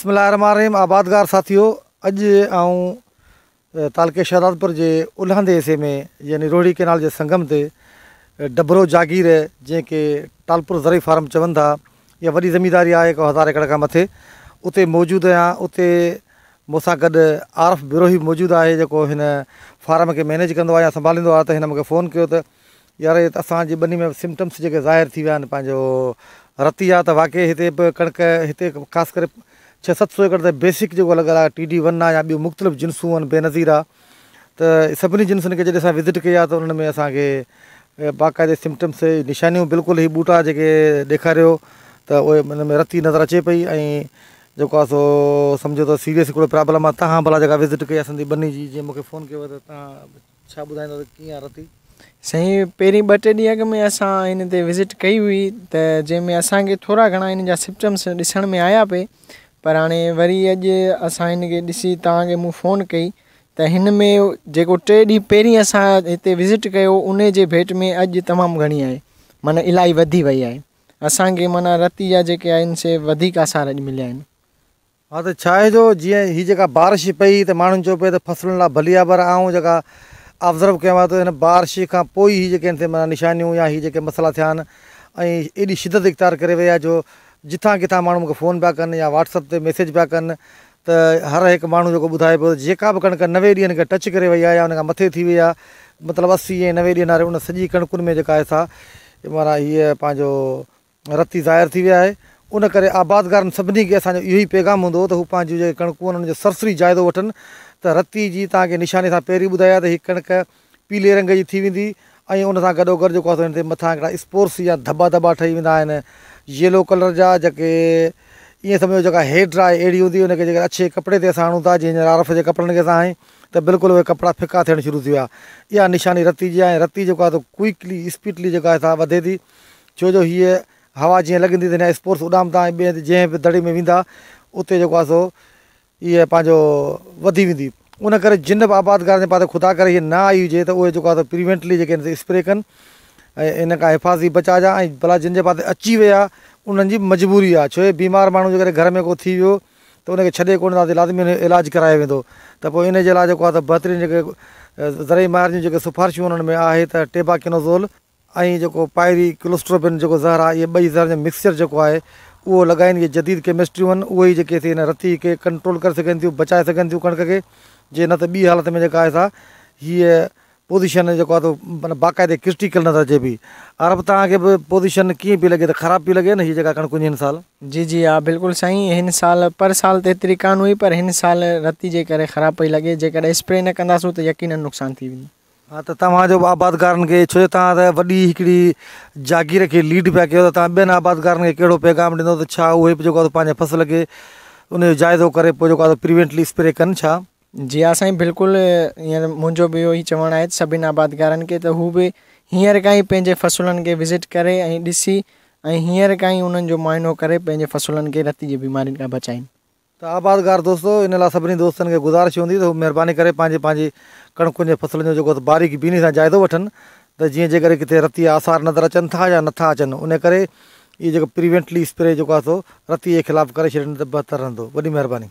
بسم الله الرحمن الرحيم آبادگار ساٿيو اڄ آئون تعلقي شهدادپور جي الهندي حصي ۾ يعني روهڙي ڪينال جي سنگم تي ڊبرو جاگير جنهن کي ٽالپور زرعي فارم چون ٿا اها وڏي زمينداري آهي هڪ هزار ايڪڙ کان مٿي اتي موجود آهيان اتي مون سان گڏ عارف بروهي موجود آهي جيڪو هن فارم کي مينيج ڪندو آهي يا سنڀاليندو آهي ته هن مونکي فون ڪيو ته يار هي ته اسان جي ٻني ۾ سمٽمس جيڪي ظاهر ٿي ويا آهن پنهنجو رتي آ ته واقعي هتي به ڪڻڪ هتي خاص ڪري ڇهه ست سو ايڪڙ ته بيسڪ جيڪو لڳل آهي ٽي ڊي ون آ يا ٻيون مختلف جنسون آهن بي نظير آ ته سڀني جنسن کي جڏهن اسان وزٽ ڪئي آ ته انهن ۾ اسان کي باقاعدي سمٽمس نشانيون بلڪل هي ٻوٽا جيڪي ڏيکاريو ته اهي ان ۾ رتي نظر اچي پئي ۽ جيڪو آ سو سمجهو ته سيريس هڪڙو پرابلم آ تهان ڀلا جيڪا وزٽ ڪئي آ سندي ٻني جي جي مونکي فون ڪيو ته تهان ڇا ٻڌائيندا ته ڪيئن آ رتي. سائين پهرين ٻه ٽي ڏينهن اڳ ۾ اسان هن تي وزٽ ڪئي هئي ته جنهن ۾ اسان کي ٿورا گهڻا هن جا سپٽمس ڏسڻ ۾ آيا پئي پر هاڻي وري اڄ اسان هن کي ڏسي تهان کي مون فون ڪئي ته هن ۾ جيڪو ٽي ڏينهن پهرين اسان هتي وزٽ ڪيو انهي جي ڀيٽ ۾ اڄ تمام گهڻي آهي معنيٰ الاهي وڌي وئي آهي اسان کي معنيٰ رتي جا جيڪي آهن سي وڌيڪ آثار اڄ مليا آهن. ها ته ڇا آهي جو جيئن هي جيڪا بارش پئي ته ماڻهن چيو پئي ته فصلن لاء ڀلي آهي پر آئون جيڪا آبزرو ڪيو آهي ته هن بارش کان پوء ئي هي جيڪي هن تي معنيٰ نشانيون يا هي جيڪي مسئلا ٿيا آهن ۽ ايڏي شدت اختيار ڪري وئي آهي جو جتان ڪٿان ماڻهو مون کي فون پيا ڪن يا واٽس اپ تي ميسيج پيا ڪن ته هر هڪ ماڻهو جيڪو ٻڌائي پيو ته جيڪا به ڪڻڪ نوي ڏينهن کي ٽچ ڪري وئي آهي يا ان کان مٿي ٿي وئي آهي مطلب اسي ۽ نوي ڏينهن واري ان سڄي ڪڻڪن ۾ جيڪا آهي سا معنيٰ هيء پنهنجو رتي ظاهر ٿي وئي آهي ان ڪري آبادگارن سڀني کي اسان جو اهو ئي پيغام هوندو هو ته هو پنهنجون جيڪي ڪڻڪون آهن ان جو سرسري جائزو وٺن ته رتي جي تان کي نشاني سان پهرين ٻڌائي آهي ته هي ڪڻڪ پيلي رنگ جي ٿي ويندي ۽ ان سان گڏو گڏ جيڪو آهي سو ان تي مٿان هڪڙا اسپورس يا ڌٻا ڌٻا ٺهي ويندا آهن ييلو ڪلر جا جيڪي ائين سمجهو جيڪا هيئر ڊرائي اهڙي هوندي ان کي جيڪر اڇي ڪپڙي تي اسان هڻون ٿا جيئن هينئر آر ايف جي ڪپڙن کي اسان هنئي ته بلڪل اهي ڪپڙا ڦڪا ٿيڻ شروع ٿي ويا اها نشاني رتي جي آهي ۽ رتي جيڪو آهي سو ڪوئڪلي اسپيڊلي جيڪا آهي سا وڌي ٿي ڇو جو هيء هوا جيئن لڳندي ته هن جا اسپورس اڏامندا ۽ ٻئي هنڌ جنهن به دڙي ۾ ويندا اتي جيڪو آهي سو اهي پنهنجو وڌي ويندي ان ڪري جن به آبادگارن جي پاتي خدا ڪري نه آئي هجي ته اهي جيڪو آهي پريوينٽلي جيڪي آهن سي اسپري ڪن ۽ ان کان حفاظتي بچاء جا ۽ بلا جن جي پاتي اچي وئي آهي انهن جي مجبوري آهي ڇو جو بيمار ماڻهو جيڪڏهن گهر ۾ ڪو ٿي ويو ته ان کي ڇڏي ڪونه ٿا سگهن لازمي ان جو علاج ڪرايو ويندو ته پوء ان جي لاء جيڪو آهي سو بهترين جيڪي زرعي ماهرن جون جيڪي سفارشون انهن ۾ آهي ته ٽيباڪينوزول ۽ جيڪو پائري ڪلوسٽروبين جيڪو زهر آهي اهي ٻئي زهرن جو مڪسچر جيڪو آهي اهو لڳائين اهي جديد ڪيمسٽريون آهن اهي ئي جيڪي سي هن رتي کي ڪنٽرول ڪري سگهن ٿيون بچائي سگهن ٿيون ڪڻڪ کي جي نه ته ٻي حالت ۾ جيڪا آهي سا هيء پوزيشن جيڪو آهي سو باقاعدي ڪرٽيڪل نظر اچي پئي ار به توهان کي به پوزيشن ڪيئن پئي لڳي ته خراب پئي لڳي نه هي جيڪا ڪڻڪون جي هن سال. جي جي ها بلڪل سائين هن سال پر سال ته هيتري ڪانه هئي پر هن سال رتي جي ڪري خراب پئي لڳي جيڪڏهن اسپري نه ڪنداسون ته يقينن نقصان ٿي ويندو. ها ته توهان جو به آبادگارن کي ڇو جو توهان ته وڏي هڪڙي جاگير کي ليڊ پيا ڪيو ته توهان ٻين آبادگارن کي ڪهڙو پيغام ڏيندو ته ڇا اهي به جيڪو پنهنجي فصل کي ان جو جائزو ڪري پوء جيڪو آهي پريوينٽلي اسپري ڪن ڇا؟ جي ها سائين بلڪل هينئر منهنجو به اهو ئي چوڻ آهي سڀني آبادگارن کي ته هو به هينئر کان ئي پنهنجي فصلن کي وزٽ ڪري ۽ ڏسي ۽ هينئر کان ئي انهن جو معائنو ڪري پنهنجي فصلن کي رتي جي بيمارين کان بچائين. ته آبادگار دوستو ان لاء سڀني دوستن کي گذارش هوندي ته هو مهرباني ڪري پنهنجي پنهنجي ڪڻڪن جي فصلن جو جيڪو آهي باريڪ بيني سان جائزو وٺن ته جيئن جيڪڏهن ڪٿي رتي آثار نظر اچن ٿا يا نٿا اچن انهي ڪري اهي جيڪو پريوينٽلي اسپري جيڪو آهي سو رتي جي خلاف ڪري ڇڏين ته بهتر رهندو وڏي مهرباني.